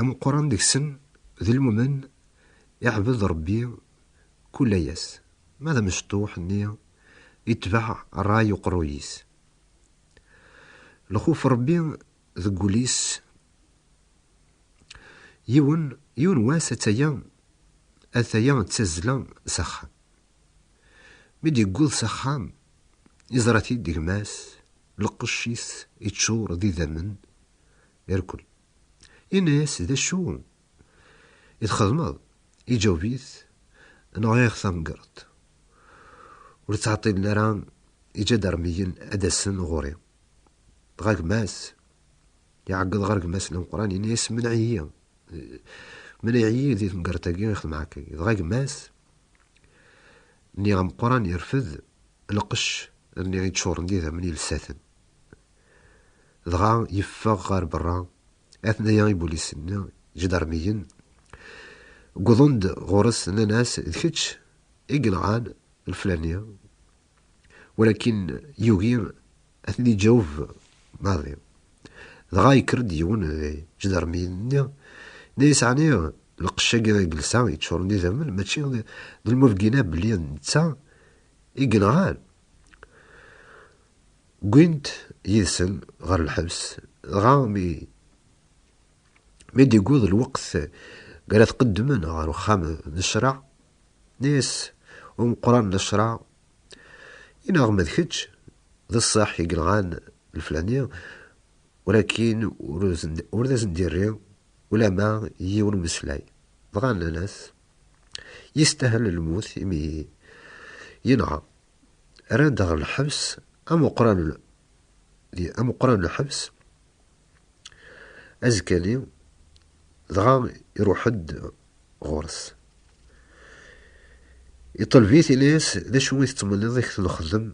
Ameqqran deg-sen d lmumen, iɛbed Rebbi kul ass, ma d amecṭuḥ-nni itbeɛ ṛṛay uqerruy-is. Lxuf Rebbi deg wul-is. Yiwen, yiwen wass ata-ya, ata-ya d tazzla s axxam. Mi d-yewweḍ s axxam, iẓra-t-id gma-s, lqecc-is iččur d idammen, irkel. Yenna-yas, D acu i txedmeḍ? Iǧaweb-it, Nɣiɣ tamgerḍt. Ur ttɛeṭṭilen ara iǧadarmiyen ad d-asen ɣur-i. Dɣa gma-s iɛeggeḍ ɣer gma-s n ameqqran, yenna-yas, Menɛ-iyi, menɛ-iyi di temgerḍt-agi i xedmeɣ akka. Dɣa gma-s nni ameqqran irfed lqecc nni iččuren d idammen yelsaten. Dɣa yeffeɣ ɣer berra, atnaya ibulisen, ǧdarmiyen, wwḍen-d ɣur-s nnan-as d kečč i yenɣan leflani, walakin yugi ad ten-iǧaweb maḍi. Dɣa yekker-d yiwen di ǧdarmiyen-nni, yenna-as ɛni lqecc-agi i yelsa yeččuren d idammen mačči d lmulgina belli d netta i yenɣan? Wwin-t yid-sen ɣer lḥebs, dɣa mi mi d-yewweḍ lweqt mi ara t-qeddmen ɣer uxxam n ccṛeɛ, nna-yas umeqqran n ccṛeɛ, I neɣ ma d kečč d ṣṣeḥ i yenɣan leflani, walakin ur d asen-d-irri ulamma yiwen umeslay. Dɣa nnan-as. Yestahel lmut imi yenɣa. Rran-d ɣer lḥebs amuqran di amuqran lḥebs azekka-nni dɣa iruḥ-d ɣur-s. Iṭelb-it ini-as d acu i tettmenniḍ i k-t-nexdem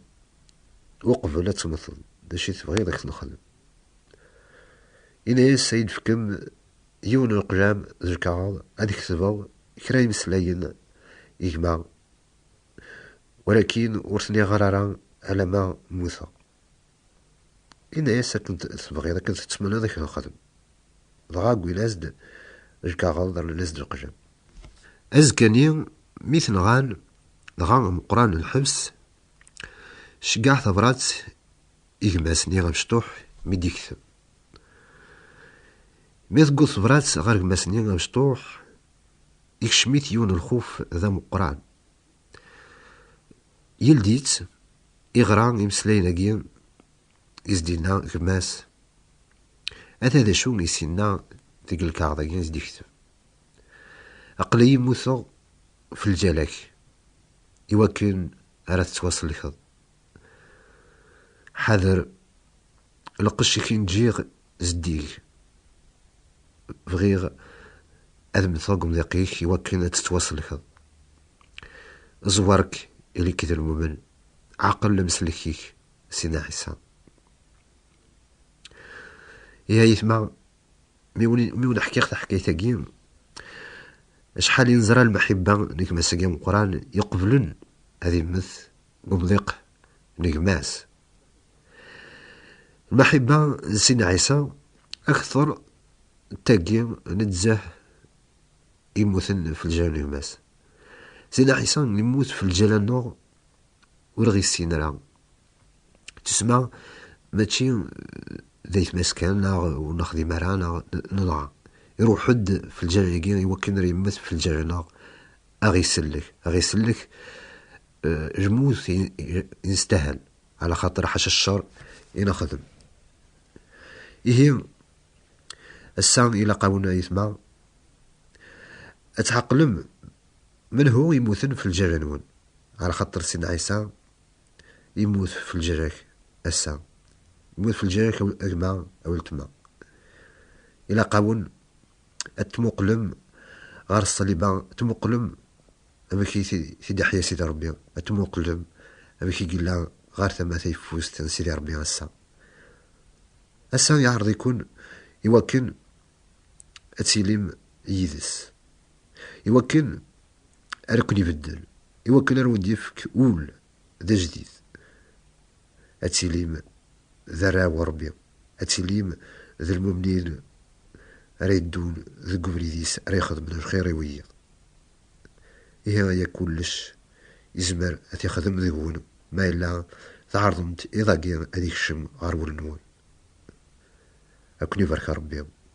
uqbel ad temmteḍ, d acu i tebɣiḍ i k-t-nexdem. Ini-as ad yi-d-fkem Yiwen n leqlam d lkaɣeḍ ad ketbeɣ kra imeslayen i gma, walakin ur ten-iɣer ara alamma mmuteɣ. Yenna-as akken tebɣiḍ, akken tettmenniḍ i k-nxedem. Dɣa wwin-as-d lkaɣeḍ, rnan-as-d lqlam. Azekka-nni mi ten-ɣan, dɣa Meqqran n lḥebs ceggeɛ tabrat i gma-s-nni amecṭuḥ mi d-yektem. Mi teggeḍ tebrat ɣer gma-s-nni amecṭuḥ, ikcem-it yiwen lxuf d ameqqran. Yeldi-tt, iɣra imeslayen-agi i s-d-yenna gma-s, ata d acu i s-yenna deg lkaɣeḍ-agi i s-d-yektem. Aql-iyi mmuteɣ f lǧal-ak, iwakken ara tettwasellkeḍ. Ḥader lqecc-ik i n-ǧǧiɣ zeddig. Bɣiɣ ad mmteɣ deg umḍiq-ik i wakken ad tettwasellkeḍ. Ẓẓwer-k ili-k d lmumen, ɛqel lemselk-ik, Sina Ɛisa. Ihi a yetma, mi wen-ḥkiɣ taḥkayt-agi, acḥal i neẓra lmeḥibba n gma-s-agi ameqqran iqeblen ad immet n umḍiq n gma-s. Lmaḥiba n Sidna Ɛisa akteṛ n tagi nezzeh immuten f lǧal n gma-s. Sidna Ɛisa yemmut f lǧal-aneɣ ur ɣ-issin ara. Tussma mačči d ayetma-s kan neɣ ur nexdim ara neɣ nenɣa. Iṛuḥ-ed f lǧal-agi iwakken ar yemmet f lǧal-aneɣ ad ɣ-isellek, ad ɣ-isellek lmut i nestahel, ɛla xaṭer ḥaca cceṛ i nexdem. Ihi, ass-a ilaq-awen ayetma ad tɛeqlem menhu yemmuten f lǧal-nwen, ɛla xaṭer Sidna Ɛisa yemmut f lǧal-ak ass-a, yemmut f lǧal-ak a gma, a weltma. Ilaq-awen ad tmuqlem ɣer ṣṣliba, tmuqlem amek i t-id-iḥya Sidi Ṛebbi, ad tmuqlem amek i yella ɣer tama tayeffust n Sidi Ṛebbi ass-a. Ass-a iɛreḍ-iken i wakken ad tilim yid-s, i wakken ar ken-ibeddel, i wakken ar wen-d-ifk ul d ajdid, ad tilim d arraw n Ṛebbi. Ad tilim d lmumnin ara yeddun deg ubrid-is, ara ixedmen lxir i wiyiḍ. Ihi aya kullec yezmer ad t-ixdem deg-wen ma yella tɛerḍem-t iḍ-agi ad ikcem ɣer wul-nwen. Ad ken-ibarek Rebbi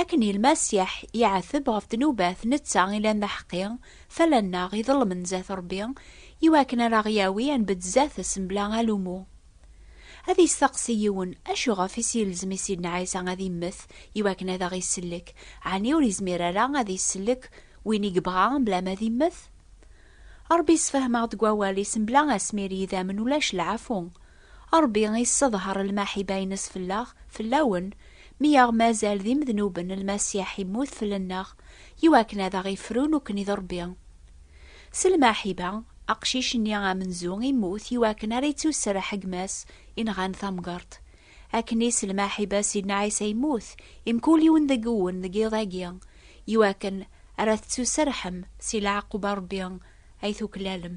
Akken ilmasiḥ iɛeteb ɣef ddnubat netta i lan d aḥeqqi, tala nneɣ iḍelmen zat Rebbi, iwakken ara ɣ-yawi ad nbedd zat-s mebla alumu. Ad isteqsi yiwen, acuɣef i s-ilzem i Sidna Ɛisa ad immet iwakken ad aɣ-isellek, ɛni ur izmir ara ad isellek win i yebɣa mebla ma ad immet? Rebbi issefhem-aɣ-d deg wawal-is mebla asmir i yidammen ulac lɛafu. Ṛebbi yesseḍher lmaḥiba-ines fell-aɣ, fell-awen, mi aɣ-mazal d imednuben, Lmasiḥ immut fell-nneɣ, iwakken ad aɣ-ifru nekkni d Ṛebbi. S lmaḥiba, aqcic-nni amenzu immut iwakken ara ittuserreḥ gma-s inɣan tamgeṛt. Akken i s lmaḥiba Sidna Ɛisa immut i mkul yiwen deg-wen deg yiḍ-agi, iwakken ara tettuserrḥem si lɛaquba Ṛebbi ay tuklalem.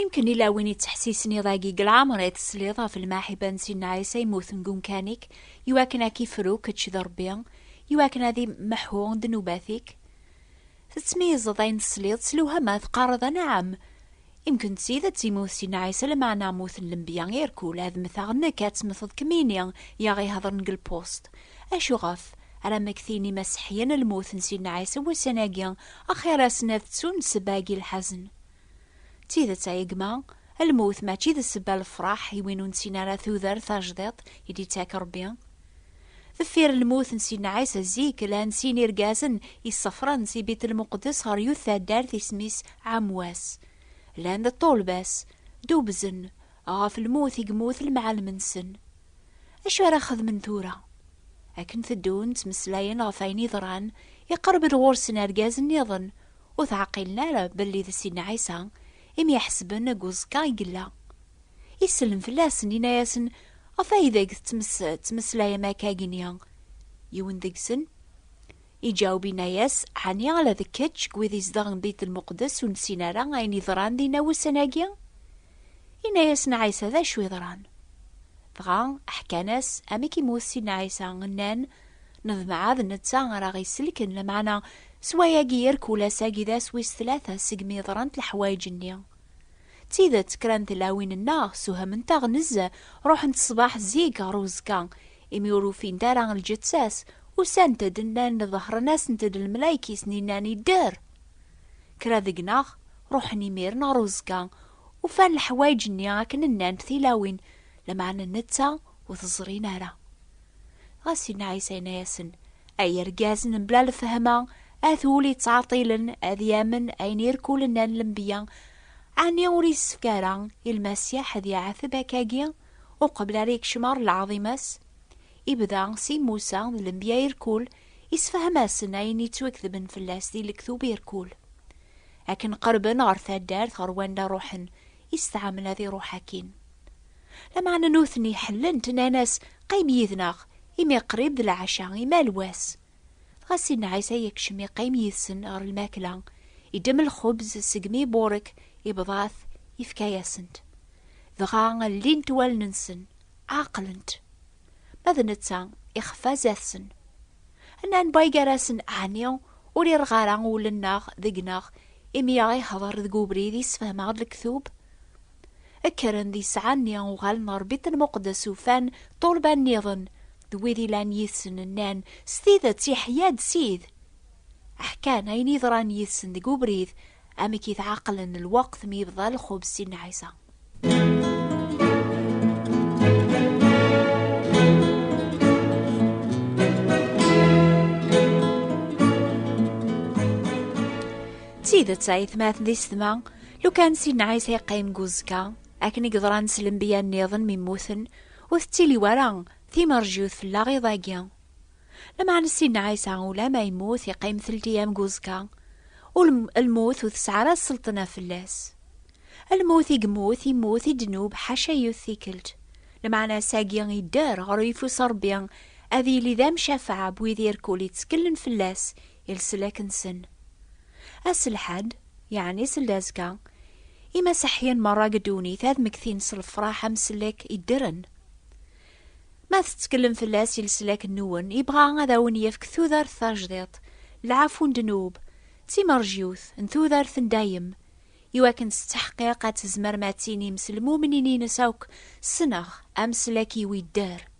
Imken ila win yettḥessisen iḍ-agi deg leɛmer ay tesliḍ ɣef lmaḥiba n Sidna Ɛisa yemmuten deg umkan-ik, iwakken ad k-ifru kečč d Rebbi, iwakken ad imḥu ddnubat-ik. Tettmeyyizeḍ ayen tesliḍ s lewhama, teqqareḍ a nɛam! Imken d tidet immut Sidna Ɛisa lameɛna mmuten lenbiya irkul, ad mmteɣ nekk ad temmteḍ kemmini i aɣ-ihedren deg lpust. Acu ɣef? Ara mmektin Imaseḥiyen lmut n Sidna Ɛisa wussan-agi Axir-asen ad ttun ssebba agi lḥazen. D tidet ay gma, lmut mačči d ssebba lefraḥ i win ur nessin ara tudert tajdiṭ i d-ittak Rebbi. Deffir lmut n Sidna Ɛisa zik llan sin irgazen i ssafren si Bit Lmuqeddes ɣer yut taddart isem-is Ɛamwas. Llan d ṭṭulba-s, dubzen ɣef lmut i yemmut lemɛallem-nsen. Acu ara xedmen tura? Akken teddun ttmeslayen ɣef ayen yeḍran, iqerreb-d ɣur-sen argaz nniḍen, ur teɛqilen ara belli d Sidna Ɛisa i myeḥsben deg uẓekka i yella. Isellem fell-asen, yenna-yasen, Ɣef ay ideg tettmeslayem akka igenni? Yiwen deg-sen. Iǧaweb inna-yas, Ɛni ala d kečč seg wid izedɣen di Beyt Lmuqdes ur nessin ara ayen yeḍran dinna wussan-agi? Inna-yasen Ɛisa, D acu yeḍran? Dɣa ḥkan-as amek i mut Sidna Ɛisa, nnan, Neḍmeɛ d netta ara aɣ-isellken, lameɛna s wayagi irkul ass-agi d ass wis tlata segmi yeḍrant leḥwayeǧ-nni. D tidet, kra n tlawin-nneɣ ssewhament-aɣ nezzeh, ruḥent ṣṣbeḥ zik ɣer uzekka, Imi ur ufint ara lǧetta-s, usant-d, nnan-d, ḍehren-asent-d lmelayek-is-nni, nnan, Idder! Kra deg-neɣ ruḥen imiren ɣer uẓekka, ufan leḥwayeǧ-nni akken nnan-d tilawin, lameɛna netta ur t-ẓrin ara. Dɣa Sidna Ɛisa yenna-yasen, Ay irgazen n bla lefhama, at wul yettɛeṭṭilen ad yamen ayen irkul nnan lembiya, ɛni ur yessefk ara i Lmasiḥ ad iɛeteb akkagi? Uqbel ara yekcem ɣer lɛaḍima-s, ibda s i Musa d lenbiya i rkul, isefhem-asen ayen yettwaketben fell-as di lektub i rkul. Akken qerben ɣer taddart ɣer wanda ruḥen, istɛamel ad iruḥ akkin. Lameɛna nutni ḥellen-t, nnan-as, Qim yid-neɣ, imi qrib d lɛaca, imal wass. Dɣa Sidna Ɛisa yekcem yeqqim yid-sen ɣer lmakla, iddem lxubz segmi iburek, ibḍa-t, yefka-yasen-t. Dɣa llint wallen-nsen, ɛeqlent. Ma d netta, ixfa zdat-sen. Nnan Bay gar-asen, Ɛni ur irɣ ara wul-nneɣ deg-neɣ imi aɣ-ihḍer deg ubrid i sfehmeɣ-d lektub? Kkren di ssaɛa-nni uɣalen ɣer Bit-el-Muqeddes ufan ṭṭulba nniḍen d wid ilan yid-sen nnan, S tidet iḥya-d Sid! Ḥkan ayen yeḍran yid-sen deg ubrid, amek i t-ɛaqlen lweqt mi yebḍa lxubz si Nna Ɛisa. D tidet ayetma atni s tma. Lukan Sidna Ɛisa yeqqim deg uzekka, akken i yeḍran s lembiya nniḍen mi mmuten, ur tettili wara timerjut fell-aɣ iḍ-agi. Lameɛna Sidna Ɛisa ulamma yemmut yeqqim telt iyam deg uzekka, ur lmut ur tesɛi ara sselṭna fell-as. Lmut i yemmut, yemmut i ddnub ḥaca yiwet tikkelt. Lameɛna ass-agi yedder ɣer uyeffus n Rebbi ad yili d amcafeɛ n wid irkul yetteklen fell-as, i leslak-nsen. Ass lḥad, yeɛni seld azekka, imaseḥyen merra deg ddunit ad mmektin s lefraḥ ameslak iddren. Ma tettkellem fell-as i leslak-nnuwen, yebɣa ad awen-yefk tudert tajdiṭ, lɛafu n ddnub, d timerjiwt n tudert n dayem, iwakken s ttḥeqqiq ad tzemrem ad tinim s lmumnin-ines akk, Ssneɣ ameslak-iw idder.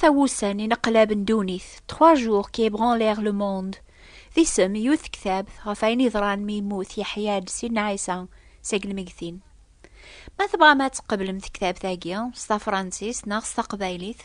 Tawusan ineqlaben ddunit, trois jours qui ébranlèrent le monde, d isem i yiwet tektabt ɣef ayen yeḍran mi yemmut Yeḥya-d Sidna Ɛisa seg lmegtin. Ma tebɣam ad tqeblem tektabt-agi s tafransist neɣ s taqbaylit,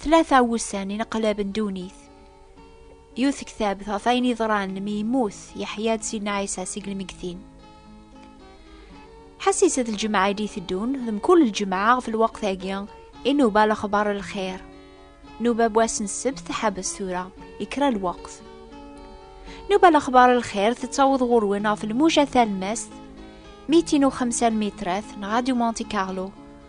Tlata wussan ineqlab n ddunit. Yiwet ktabt ɣef ayen yeḍran mi yemmut Yeḥya-d Sidna Ɛisa seg lmegtin. Ḥassiset lǧemɛa i d-iteddun, d mkul lǧemɛa ɣef lweqt-agi, inuba lexbar lxir. Nuba wass n ssebt teḥbes tura, ikra lweqt. Nuba lexbar lxir tettaweḍ ɣur-wen ɣef lmuja talmast, mitin u xemsa lmitrat, neɣ Radio Monte Carlo,